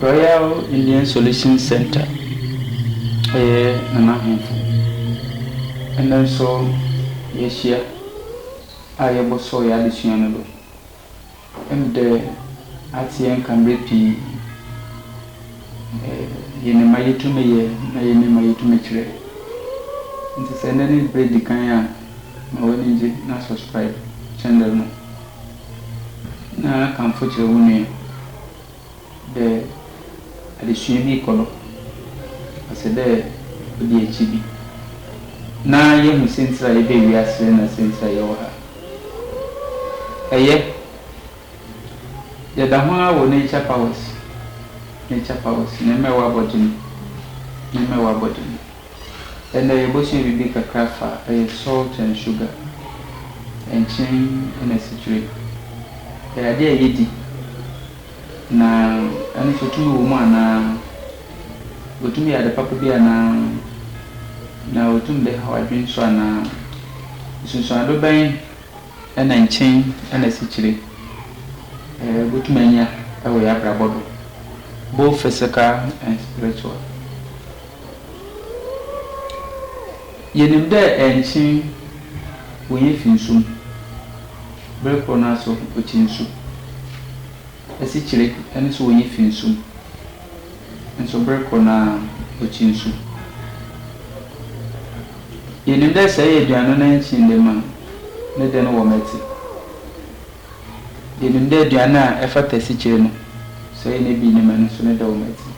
Royal Indian Solutions Centre yɛ Nana Ahemfo. Ɛnnɛ nso yɛahyia a yɛbɔsɔɔ yɛn adesua no do. Ndɛ atse yɛn nka mber pii. Yɛnye ma yetum yɛ na yɛnye ma yetum kyerɛ. Ntsi sɛ ndɛ ne ber edzi kan a, ma w'enyi gye na subscribe channel no. na kamfo kyerɛ wo nua dɛ adesua bi rokɔ do, ɔsɛ dɛ odzi ekyir bi, na yehu siantsir a yɛbaa wiase na siantsir a yɛwɔ ha. Ɛyɛ, yɛda ho ara wɔ Nature Powers, Nature Powers, Nyame a ɔabɔ gye no, Nyame a ɔabɔ gye no. Ɛnɛ yɛbɔsua biribi kakra fa ɛyɛ salt and sugar, nkyen ɛna asikyire. Ɛyɛ adeɛ a yɛdi na ɛno nso tumi wɔ mu anaa? Ɔtumi yɛ ade papa bi anaa? Na ɔtumi bɛhaw adwene nso anaa? Nsunsuando bɛn ɛna nkyen ɛna asikyire yɛbɔtumi anya wɔ yɛn abrabɔ do, both physical and spiritual? Yenim dɛ nkyene wonya fi nsu mu, ber kor no ara so ɔkye nsu. Esikyire no so wonya fi nsu mu, nso ber kor no ara ɔkye nsu. Yenim dɛ sɛ eyɛ aduan no na nkyene da mu a, ne dɛ no wɔ mɛtse. Yenim dɛ aduan a ɛfata sikyere no, sɛ yenya bi nnɛ ma ɛno nso ne dɛw ma ɛtsen.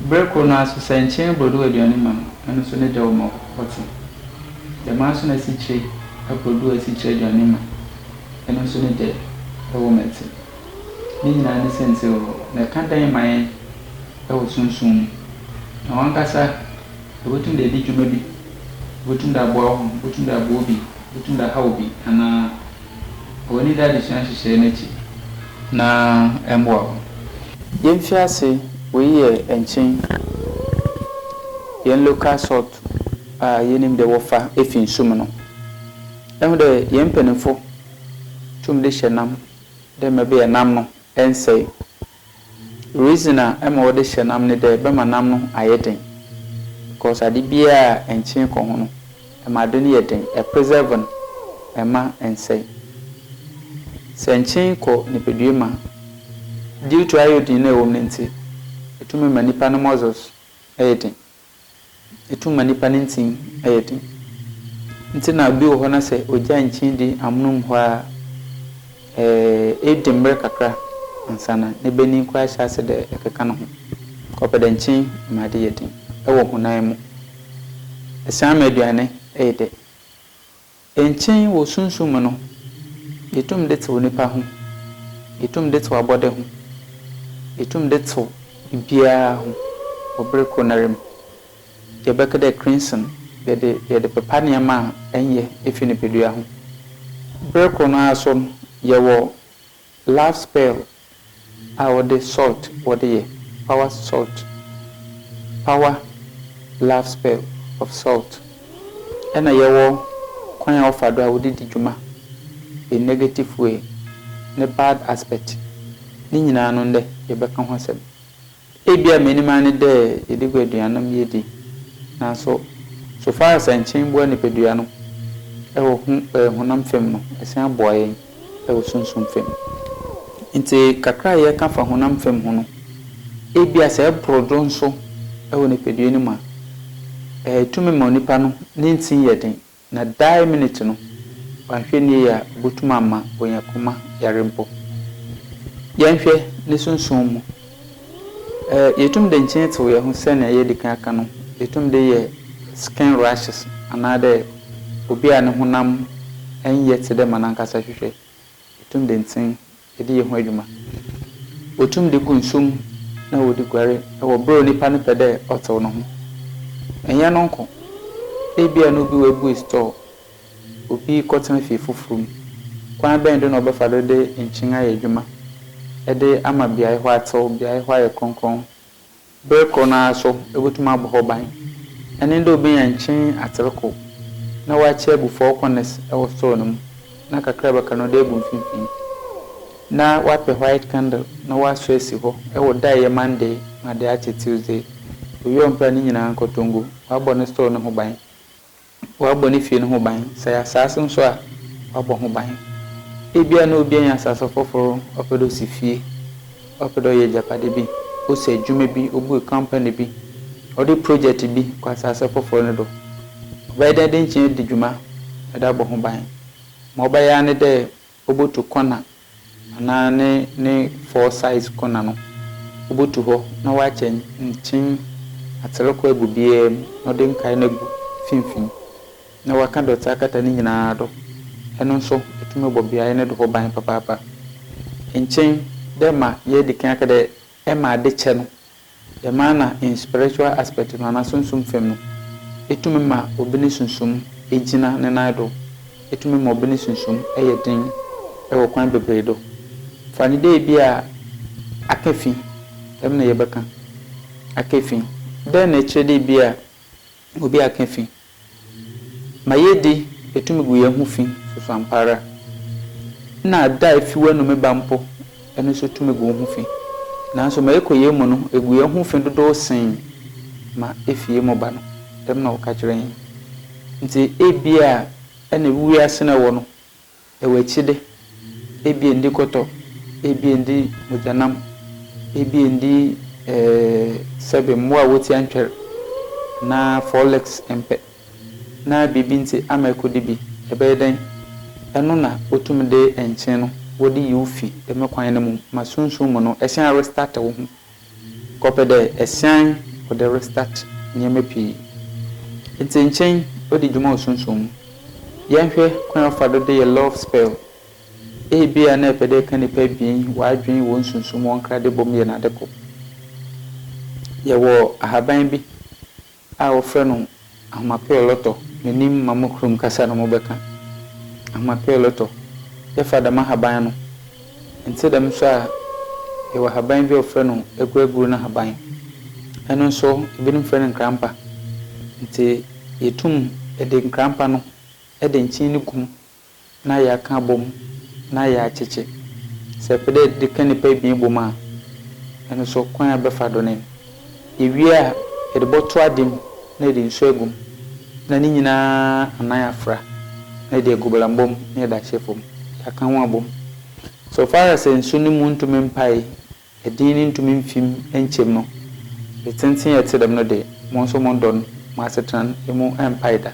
Ber kor no ara so, sɛ nkyen brodow aduane ma no, ɛno nso ne dɛw ma ɔtsen. Dɛm ara nso na sikyere brodow a sikyere aduane ma ɛno nso ne dɛ ɛwɔ ma ɛtsen. Ne nyinaa ne siantsir horow, na ɛka dɛn ma hɛn wɔ sunsum mu? Na wankasa Ibotum dɛ edzi dwuma bi, ibotum dɛ aboa woho, ibotum dɛ aboa obi, ibotum dɛ ahaw obi, anaa w'enyi da adzesua nhyehyɛɛ no ekyir na mboa wo. Yɛmfi ase, wei yɛ nkyen yɛn local salt a yɛnim dɛ wɔfa fi nsu mu no. Yɛahu dɛ yɛn mpanyimfo tum de hyɛ nam dɛ mɛbɛyɛ nam no nnsɛe Reason a ɛma wɔde hyɛ nam ne dɛ ɛbɛma nam no ayɛ den because ade biara a ɛnkyene kɔ ho no ɛma ade no yɛ den, ɛ preserve no, ɛmma ɛnsɛe. Sɛ nkyene kɔ nipadua mu a, due to iodine no a ɛwɔ mu no nti, ɛtumi ma nipa no muscles yɛ den. Etum ma nipa ne ntsin yɛ den. Ntsi na bi wɔ hɔ na sɛ ogya nnkyen dzi amono mu hɔ ara a, edi mber kakra ansaana ne banyin koraa hyɛ ase dɛ ɛkeka no ho. Ɔpɛ dɛ nkyen ma ade yɛ den wɔ honam mu. Esian ma eduane yɛ dɛ. Nkyɛn wɔ sunsum mu no, yetum de tsew nyimpa ho, yetum de tsew abɔde ho, yetum de tsew biribiara ho wɔ ber kor noara mu. Yɛbɛka dɛ cranesome yɛdze yɛdze pepa ndzɛmba a nnyɛ fi nyimpadua ho. Ber kor no ara so no, yɛwɔ Love spell a wɔde salt wɔde yɛ, power salt, power love spell of salt, ɛna yɛwɔ kwan a wɔfa do a wɔde di dwuma, the negative way ne bad aspect, ne nyinaa no ndɛ yɛbɛka ho asɛm. Ebia m'enyim ara nye dɛ yɛdze gu eduan no mu yedzi, naaso so far as nkyen boa nyimpadua no wɔ ho ɛɛ honam famu no, ɔsan boa hɛn wɔ sunsum famu. Ntsi kakra a yɛkã fa honam famu ho no, ebia sɛ ebor do so wɔ nyimpadua no mu a, eetum ma onipa no ne ntsin yɛ dzen Na dae minute no, wanhwɛ nie yɛ a obotum ama oenya koma yare mpo. Yɛnhwɛ ne sunsum mu. Ɛ, yetum de nkyen tsew hɛnho sɛnea yeedzi kan aka no, yetum de yɛ skin rashes anaadɛ obi a no honam nnyɛ tse dɛ ma nankasa hwehwɛ. Yetum de nkyen de yɛ ho edwuma. Wotum de gu nsu mu na wɔdze guare wɔ ber a onipa no pɛ dɛ ɔtsew no ho. Nnyɛ no nko, ebia na obi oebue store, obi kɔtsena fie fofor mu. Kwan bɛn do na wɔbɛfa do dze nkyen ayɛ edwuma de ama beae hɔ atsew, beae hɔ ayɛ krɔnkrɔn? Ber kor no ara so obotum abɔ hɔ ban. Ɛne dɛ obenya nkyen atser kor, na ɔakyɛ egu four corners wɔ sor no mu, na kakrabakra no ɔde egu mfinfin. Na ɔapɛ white candle na ɔasɔ esi hɔ wɔ da a eyɛ Monday ma de akyɛ Tuesday. Owie ɔmmpra ne nyina nkɔtɔngo, ɔabɔ ne sor no ho ban. Wɔabɔ ne fie no ho ban. Sɛ ɛyɛ asaase nso a, wɔabɔ ho ban. Ebia na obi anya asaase foforo, ɔpɛ dɛ osi fie, ɔpɛ dɛ ɔyɛ agyapade bi, osi adwuma bi, obue company bi, ɔde project bi kɔ asaase foforo no do. Ɔbɛyɛ dɛn de nkyia adi dwuma de abɔ ho ban? Ma ɔbɛyɛ ara ne dɛ Obotu kɔna anaa ne ne foresight kɔna no, obotu hɔ na ɔakyɛ nkyen atser kɔ egu biara mu na ɔdze nkae no egu finimfin na ɔakã dɔtse akata ne nyinara do. Eno nso etum bɔ beae no do hɔ ban papaapa. Nkyen dɛ ma yeedzi kan aka dɛ ma adze kyɛ no Dɛm ara na in spiritual aspect no anaa sunsum fam no, etumi ma obi ne sunsum gyina ne nan do, etumi ma obi ne sunsum yɛ den wɔ kwan beberee do. Fa no dɛ bi a akã fi, dɛm na yɛbɛkã, akã fi. Dɛn na ɛkyerɛ dɛ bi a obi akã fi? Ma yɛdi etu megu yɛn ho fi so so ampa ara. Nna da a efi w'anom reba mpo ɛno nso tu megu wo ho fi. Nanso ma yɛkɔ yei mu no egu yɛn ho fi dodow sen ma efi yɛn mu ba no, dɛm na wɔka kyerɛ yɛn. Enti ebia ɛne wiase no a ɛwɔ no Ɛwɔ akyide, ebia nni kɔtɔ, ebia nni mogyanam, ebia nni ɛɛ sɛbe mmoa a wɔti antwɛr anaa folex mpɛ na biribi nti ama ɛkɔdi bi. Ɛbɛyɛ dɛn? Ɛno na wɔtumi de nkyen no wɔde yi wo fi dɛm kwan no mu ma sunsum mu no ɛhyɛn restart wo ho. Kɔpɛ dɛ esian ɔdɛ restart ndzɛmba pii. Etse nkyen odzi dwuma wɔ sunsum mu. Yɛnhwɛ kwan a wɔfa do de yɛ love spell. Ebia na epɛ dɛ eka nyimpa ebien w'adwen hɔn sunsum hɔn nkra de bɔ mu yɛ no ade kor. Yɛwɔ ahaban bi a wɔfrɛ no Ahmapeyolotɔ n'anim ma mo kurom kasa no mobɛka. Ahmapeyolotɔ, yɛfa dɛm ahaban no, nntse dɛm so a yɛwɔ ahaban bi a wɔfrɛ no Aguaguru no ahaban. Ɛno nso ebinom frɛ no nkrampa. Ntsi yetum de nkrampa no de nkyen no gu mu na yɛakã abɔmu na yaakyekye. Sɛ epɛ dɛ edze kã nyimpa ebien bɔ mu a, ɛno so kwan a ebɛfa do nye no. Iwie a, edze bɔto adze mu na edze nsu egu mu na ne nyina anan afora na edze egu bɔlambɔ mu na edze ahyɛ famu. Yɛakã hɔn abɔ mu. So far as nsu no mu nntum mpae Ɛdin no ntumi mfim nkyɛm no, de tenten a ɛte dɛm no de mo nso mo dɔ no mo asetran mu mpae da.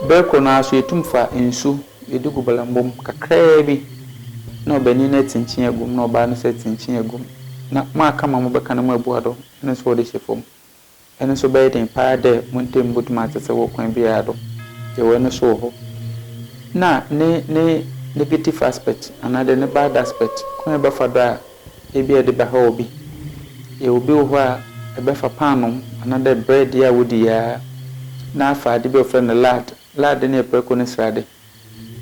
Bere koro no ara so yɛtum fa nsu yɛde gu balambom kakraa bi na ɔbanin no akyinkyin agu mu na ɔbaa no nso akyinkyin agu mu na mo aka ma mobɛka na moabu adɔ ɛno nso wɔde hyɛ fam. Ɛno so bɛyɛ dɛn paa dɛ mo ntamu botum atsetse wɔ kwan biara do. Yɛwɔ ɛno so wɔ hɔ. Nna ne ne negative aspect anaadɛ ne bad aspect, kwan a ebɛfa do a ebi a edze bɛhaw obi. Yɛwɔ bi wɔ hɔ a ebɛfa paanoo anaadɛ bread yi a wodi yi ara na afa adze bi a wɔfrɛ no lard, lard no yɛ prɛko ne srade.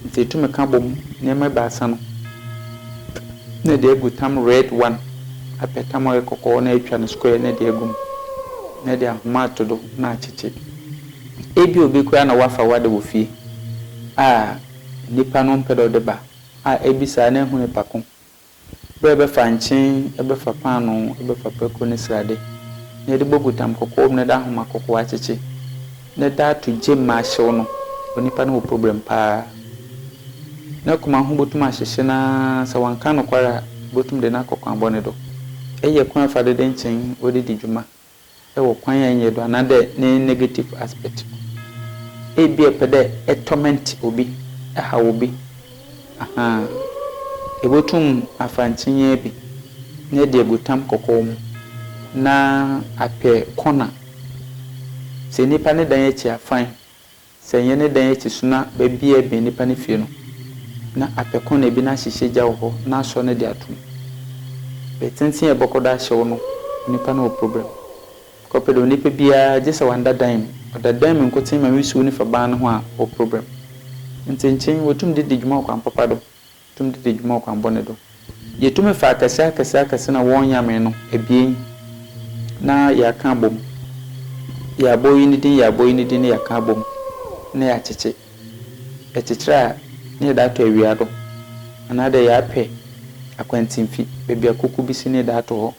Ntsi etum ekã bɔ mu ndzɛmba ebiasa no na edze egu tam red one, apɛ tam a ɔyɛ kɔkɔɔ na etwa no square na edze egu mu na edze ahoma ato do na akyekye. Ebi a obi koraa na ɔafa ɔada wɔ fie a nyimpa no mmpɛ dɛ ɔde ba a, ebisa a na ehu nyimpa ko Bere a ɛbɛfa nkyen, ɛbɛfa paanoo, ɛbɛfa pako ne srade, na yɛde bɔ butam kɔkɔɔ mu na ɛde ahoma kɔkɔɔ akyekye, na ɛda ato gye ma ahyew no, onipa no wɔ problem paa. Ne koma ho botum ahyehye no ara, sɛ ɔannka nokwar a, ibotum de no akɔ kwan bɔne do. Iyi yɛ kwan a wɔfa do de nkyen wɔdze dzi dwuma wɔ kwan a enye do anaadɛ ne negative aspect mu. Ebia epɛ dɛ e torment obi, ehaw obi, ahaa. Ebotum afa nkyinyee bi na ede egu tam kɔkɔɔ mu na apɛ corner. Sɛ nyimpa ne dan akyi afan Sɛ nyɛ ne dan akyi so na baabi a ɛbɛn nnipa no fie no, na apɛ kɔna bi na ahyehyɛ gya wɔ hɔ na asɔ no de ato mu. Bere tenten a ɛbɛkɔ do ahyew no, onipa no wɔ problem. Kɔpɛ dɛ onipa biara, gye sɛ wanda dan mu, ɔda dan mu nkotsee ma wisiw no fa ban no ho a, ɔwɔ problem. Ntsi nkyen wotum dze dzi dwuma ɔkwan papa do. tum dze dzi dwuma ɔkwanbɔn no do. Yetum fa akɛse akɛse akɛse na wɔnnyamee no ebien na yɛakã abɔ mu, yɛabɔ iyi ne dzin, yɛabɔ iyi ne dzin na yɛakã abɔ mu na yɛakyekye. Yɛkyekyer a na yɛdze ato ewia do anaadɛ yɛapɛ akwantsimfi, beebi a koko bi si na yɛdze ato hɔ.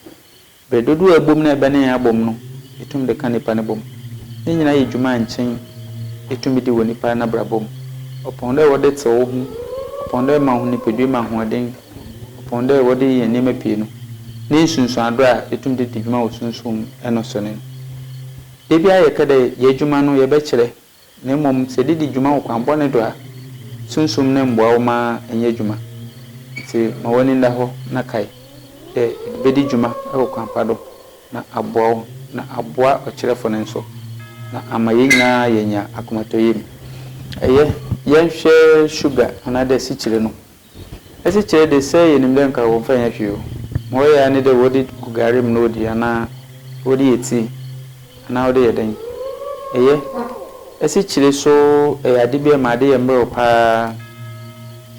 Bere dodow a ɛbom na ɛbɛne yɛn abom no, yetumi de ka nnipa no bom. Ne nyinaa yɛ dwuma a nkyen etumi di wɔ nnipa n'abrabɔ mu. Ɔpɔn dɛ wɔde tsew wo ho, ɔpɔn dɛ ɛma wo ho nipadua mu ahoɔden, ɔpɔn dɛ wɔde yɛ nneɛma pii no, ne nsunsuando a etumi de di dwuma wɔ sunsum mu no so ne no. Da biara yɛka dɛ yɛn adwuma no yɛbɛkyerɛ Na mmom sɛ de di dwuma wɔ kwan bɔne do a, Sunsum no mboa wo ma ennyɛ edwuma. Ntsi ma w'enyi nda hɔ na kae dɛ ede bedi dwuma wɔ kwan pa do na aboa wo na aboa ɔkyerɛfo no so na ama hɛn nyina yeenya akomatɔyamu. Yɛ, yɛnhwɛ sugar anaadɛ sikyire no. Asikyire de, sɛ yɛnim dɛ nka wɔmfa nyɛ hwee o, ma wɔyɛ ara ne dɛ wɔde gu gare mu na wɔdi anaa wɔde yɛ tii anaa wɔde yɛ dɛn. Ɛyɛ, asikyire so yɛ ade bi a ɛma ade yɛ mmerɛw pa ara.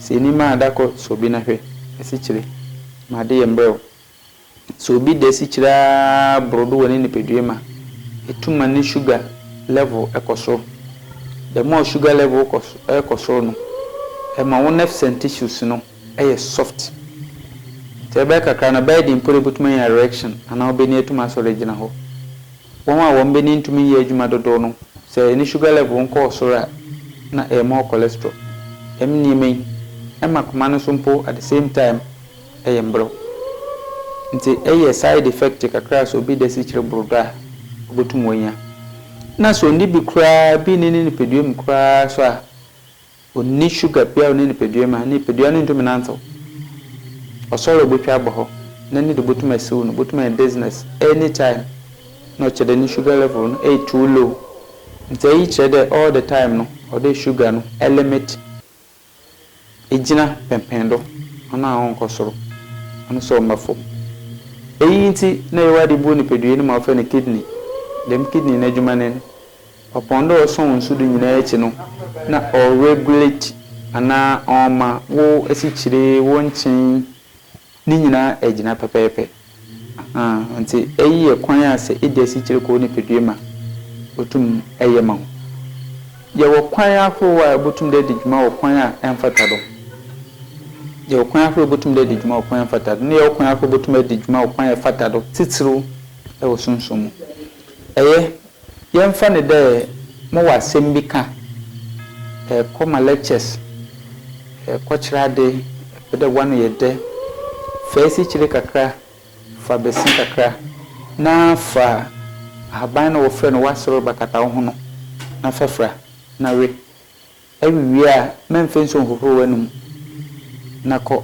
Sɛ nni mma a, da kɔ sɔ obi na hwɛ. Asikyire ma ade yɛ mmerɛw. Sɛ obi da asikyire ara boro do wɔ ne nipadua mu a, etu ma ne sugar level kɔ soro. The more sugar level kɔ kɔ soro no, ɛma wo nerves and tissues no yɛ soft. Sɛ ɛbɛyɛ kakra no, ɛbɛyɛ den mpo dɛ ebotumi anya erection anaa wo bani atum asɔre agyina hɔ. Wɔn a wɔn bani ntumi nyɛ adwuma dodow no, sɛ ne sugar level nkɔɔ soro a, na ɛyɛ more cholesterol. Dɛm nneɛma yi, ɛma koma no so mpo at the same time, yɛ mberɛw. Ntsi eyɛ side effect kakra sɛ obi da esikyere bor do a, obotum oenya. Nna sɛ onnyi bi koraa, bi nnyi ne nyimpadua mu koraa so a, onnyi sugar biara wɔ ne nyimpadua mu a, ne nyimpadua no nntum nantsew. Ɔsɔr a obotwa abɔ hɔ na no do botum esiw no, obotum enya dizziness anytime. Nna ɔkyerɛ dɛ no sugar level no eyɛ too low. Ntsi iyi kyerɛ dɛ all the time no, ɔwɔ dɛ sugar no elimit egyina pɛnpɛn do, hɔn a wɔnnkɔ sor, hɔn so wɔmmba famu. Iyi ntsi na yewadze bu nyimpadua no ma wɔfrɛ no kidney. Dɛm kidney n'edwuma nye n', ɔpon do a ɔsɔn nsu do nyina ekyi no na ɔregulate anaa ɔma wo esikyire, wo nkyen, Ne nyinaa agyina pɛpɛɛpɛ. Ahaa, nti ɛyi yɛ kwan a sɛ edi asikyire kɔ wo nipadua mu a, otum ɛyɛ ma wo. Yɛwɔ kwan ahorow a ɛbotum dɛ ɛdi dwuma wɔ kwan a ɛmfata do. Yɛwɔ kwan ahorow a ɛbotum dɛ ɛdi dwuma wɔ kwan a ɛmfata do, ne yɛwɔ kwan ahorow a ɛbotum ɛdi dwuma wɔ kwan a ɛfata do, titiriw ɛwɔ sunsum mu. Ɛyɛ Yɛmfa no dɛ mowɔ asɛm bi kã, erokɔ ma lectures, erokɔkyerɛ adze, epɛ dɛ w'ano yɛ dɛ, fa esikyire kakra, fa bese kakra, na fa ahaban no a wɔfrɛ no w'asorba kata wo ho no, na fa fura, na we. Ewiwie a, ma mfa nsu nhohoro w'anom na kɔ.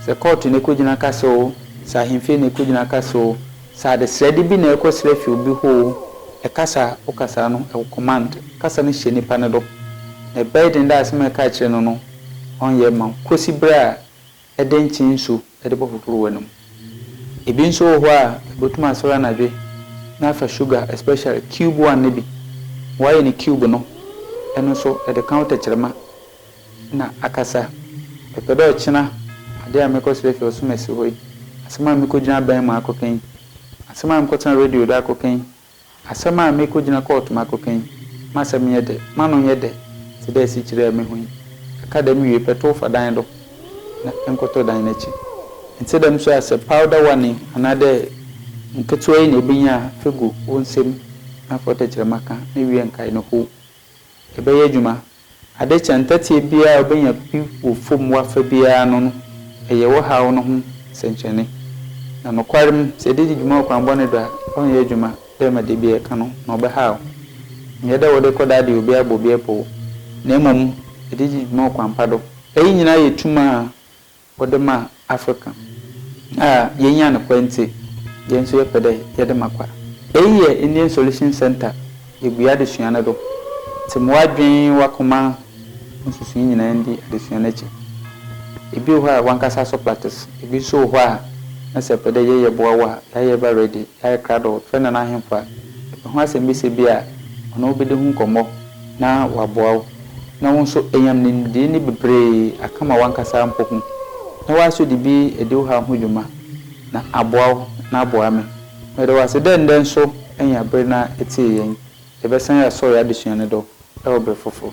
Sɛ kɔɔto na ɛrekɔgyina ka so oo, sɛ ahemfie na ɛrekɔgyina ka so oo, sɛ adesrɛde bi na ɛrekɔsrɛ fi obi hɔ oo, ɛkasa a wokasa no, ɛwɔ command. Kasa no hyɛ nipa no do, na ɛbɛyɛ den dɛ asɛm a ɛreka akyerɛ no no, ɔnyɛ mma wo, kɔsi berɛ a. de nkyen nsu de bɔpoprɔ w'anum. Ebi nso wɔ hɔ a wobɛtumi asɔre anadwe na afa sugar especially cube one no bi, w'ayɛ no cube no, ɛno nso ɛde ka wo tɛkyerɛma na akasa. Mepɛ dɛ ɔkyena adeɛ a mɛkɔ srɛ firi ɔsom asi hɔ yi, asɛm a mekɔgyina abɛn mu akɔka yi, asɛm a mekɔtena radio do akɔka yi, Asɛm a merekɔgyina kɔɔto mu akɔka yi, m'asɛm nyɛ dɛ, m'ano nyɛ dɛ tse dɛ esikyire a mehu yi. Aka dɛm wie pɛ, tow fa dan do na nkɔtɔ dan no akyi. Nntse dɛm so a, sɛ powder warning anaadɛ nketsewa yi na ebenya a, fa gu wo nsamu na fa wo tɛkyerɛma ka na wie nkae no how. Yɛbɛyɛ adwuma. Ade kyɛ ntɛteɛ biara a wobɛnya bi wɔ fam wo afa biara ano no, ɛyɛ wo haw no ho sɛnkyerɛnne. Na nokwarem, sɛ yɛde di dwuma wɔ kwan bɔne do a, ɔrenyɛ adwuma dɛ ma da biara ɛka no ho, na ɔbɛhaw wo. Ɛnyɛ dɛ wode rekɔ daade obi abɔ obi pɔw, na mmom yɛde di dwuma wɔ kwan pa do. Eyi nyinaa yɛ tum a Wɔde ma Afrika a yenya no kwa ntsi, hɛn so yɛpɛ dɛ yɛde ma kwa. Iyi yɛ Indian Solution Centre yebue adesua no do. Tse ma w'adwen, w'akoma, wo nsusui nyina ndi adesua no ekyir. Bi wɔ hɔ a wankasa asɔ platts, bi so wɔ hɔ a na sɛ epɛ dɛ yɛyɛ boa wo a, yɛayɛ eba ready, yɛayɛ krado, frɛ Nana Ahemfo a, epɛ ho asɛmbisa bi a, ɔnye wo bedi ho nkɔmbɔ. na wɔaboa wo, na wo nso anyam ne nimdeɛ ni bebree aka ma w'ankasa mpo ho, na woaso de bi adi wo haw ho dwuma, na aboa wo, na aboa me. Meda wo ase dɛ ndɛ nso enya ber na etsie yɛn. Yɛbɛsan asɔr yɛ adesua no do wɔ ber fofor.